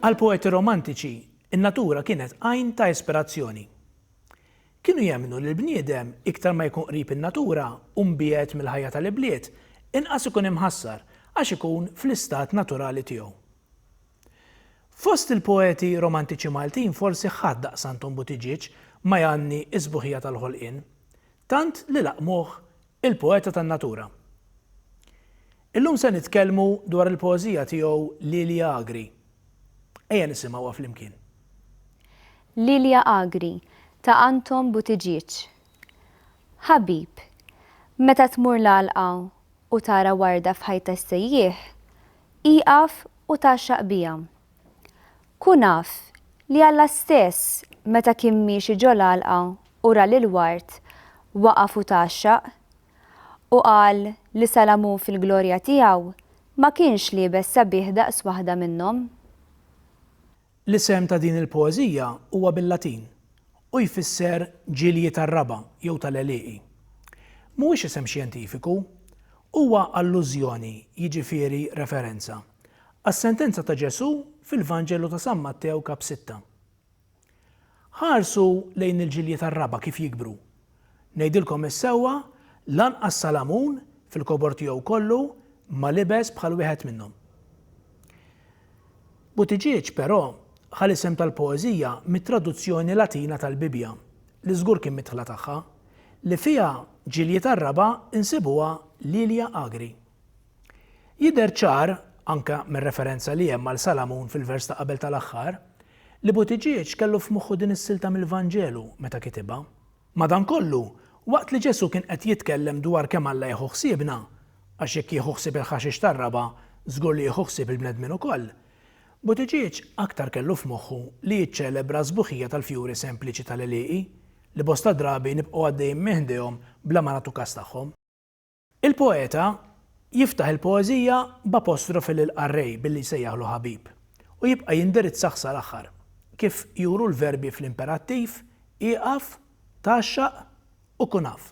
Għall-poeti romantiċi, in-natura kienet għajn ta' ispirazzjoni. Kienu jemmnu li l-bniedem iktar ma jkun qrib in-natura u mbiegħed mill-ħajja tal-ibliet, inqas ikun imħassar għax ikun fl-istat naturali tiegħu. Fost il-poeti romantiċi Maltin forsi ħadd daqs Anton Buttigieg ma jgħanni s-sbuħija tal-ħolqien, tant li laqqmuh il-poeta tan-natura. Illum se nitkellmu dwar il-poeżija tiegħu Lilia Agri. Ejja nisimgħuha flimkien. Lilia Agri, ta' Anton Buttigieg. Ħabib, meta tmur l-għalqa u tara warda f'ħajt tas-sejjieħ, ieqaf u tgħaxxaq biha. Kun af li Alla stess meta kien miexi ġol-għalqa u ra lill-ward, waqaf u tgħaxxaq, u qal li Salamun fil-glorja tiegħu ma kienx liebes sabiħ daqs waħda minnhom. L-isem ta' din il-poeżija huwa bil-Latin u jfisser ġilji tar-raba' jew tal-għelieqi. Mhuwiex isem xjentifiku. Huwa allużjoni, jiġifieri referenza, għas-sentenza ta' Ġesù fil-Vanġelu ta' San Mattew kap. Sitta. Ħarsu lejn il-ġilji tar-raba' kif jikbru Ngħidilkom is-sewwa, lanqas Salamun, fil-kobor tiegħu kollu, ma libes bħal wieħed minnhom. Buttigieg, però, ħa l-isem tal-poeżija mit-traduzzjoni Latina tal-Bibbja, li żgur kien midħla tagħha, li fiha ġiljiet Għarraba nsibuha Lilia agri. Jidher ċar, anke mir-referenza li hemm għal Salamun fil-vers ta' qabel tal-aħħar, li Buttigieg kellu f'moħħu din is-silta mill-Vanġelu meta kitibha. Madankollu, waqt li Ġesù kien qed jitkellem dwar kemm Alla jieħu ħsiebna, għax jekk jieħu ħsieb il-ħaxix tar-raba', żgur li jieħu ħsieb il-bnedmin ukoll, Buttigieg aktar kellu f'moħħu li jiċċelebra s-sbuħija tal-fjuri sempliċi tal-għelieqi, li bosta drabi nibqgħu għaddejjin minn ħdejhom bla ma nagħtu kas tagħhom. Il-poeta jiftaħ il-poeżija b'apostrofi lill-qarrej billi jsejjaħlu ħabib, u jibqa' jindirizzah sal-aħħar, kif juru l-verbi fl-imperattiv, ieqaf, tgħaxxaq, u kun af.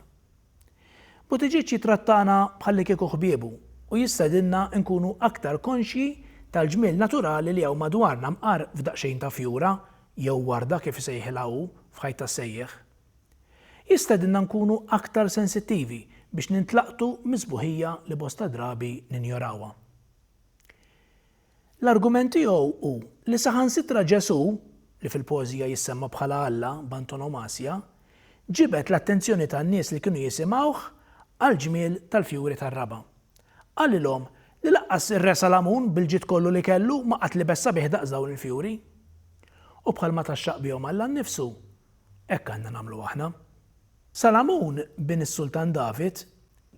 Buttigieg jittrattana bħallikieku ħbiebu u jistedinna nkunu aktar konxji tal-ġmiel naturali li hawn madwarna mqar f'daqsxejn ta' fjura, jew warda kif isejħilha hu, f'ħajt tas-sejjieħ. Jistedinna nkunu aktar sensittivi biex nintlaqtu mis-sbuħija li bosta drabi ninjorawha. L-argument tiegħu hu li saħansitra Ġesù, li fil-poeżija jissemma bħala Alla b'antonomasja, ġibed l-attenzjoni tan-nies li kienu jisimgħuh għall-ġmiel tal-fjuri tar-raba'. Qalilhom li lanqas ir-Re Salamun bil-ġid kollu li kellu ma qatt libes sabiħ daqs dawn il-fjuri. U bħalma tgħaxxaq bihom Alla nnifsu, Hekk għandna nagħmlu aħna. Salamun, bin is-Sultan David,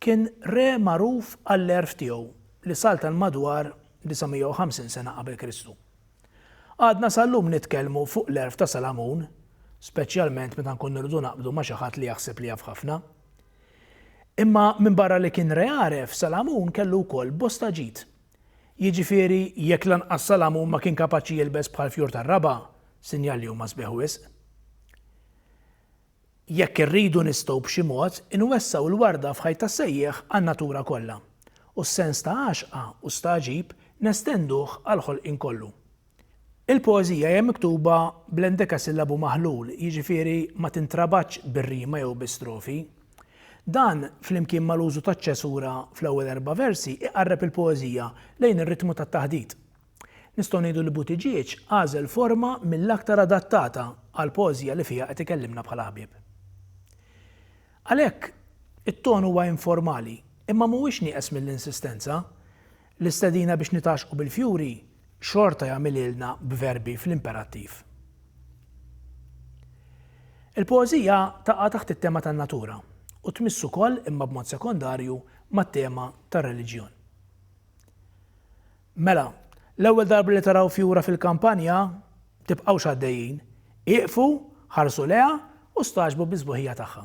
kien re magħruf għall-għerf tiegħu li saltan madwar 950 sena qabel Kristu. Għadna sal-lum nitkellmu fuq l-għerf ta' Salamun, speċjalment meta nkunu rridu naqbdu ma' xi ħadd li jaħseb li jaf ħafna. Imma minbarra li kien re għaref, Salamun kellu wkoll bosta ġid Jiġifieri, jekk lanqas Salamun ma kien kapaċi jilbes bħal fjur tar-raba', sinjal li huma sbieħ wisq. Jekk irridu nistgħu b'xi mod inwessgħu l-warda f'ħajt tas-sejjieħ għan-natura kollha, u s-sens ta' għaxqa u stagħġib nestenduh għall-ħolqien kollu. Il-poeżija hija miktuba bl-endekasillabu maħlul, jiġifieri ma tintrabatx bir-rima jew bi strofi. Dan, flimkien mal-użu taċ-ċesura fl-ewwel erba' versi, iqarreb il-poeżija lejn ir-ritmu tat-taħdit. Nistgħu ngħidu li Buttigieg għażel forma mill-aktar adattata għall-poeżija li fiha qed ikellimna bħala ħbieb. Għalhekk, it-ton huwa informali, imma mhuwiex nieqes mill-insistenza. L-istedina biex nitgħaxxqu bil-fjuri xorta jagħmilhielna b'verbi fl-imperattiv. Il-poeżija taqa' taħt it-tema tan-natura u tmiss ukoll imma b'mod sekondarju mat-tema tar-reliġjon. Mela, l-ewwel darba li taraw fjura fil-kampanja, tibqgħux għaddejjin, ieqfu, ħarsu lejha u stagħġbu bis-sbuħija tagħha.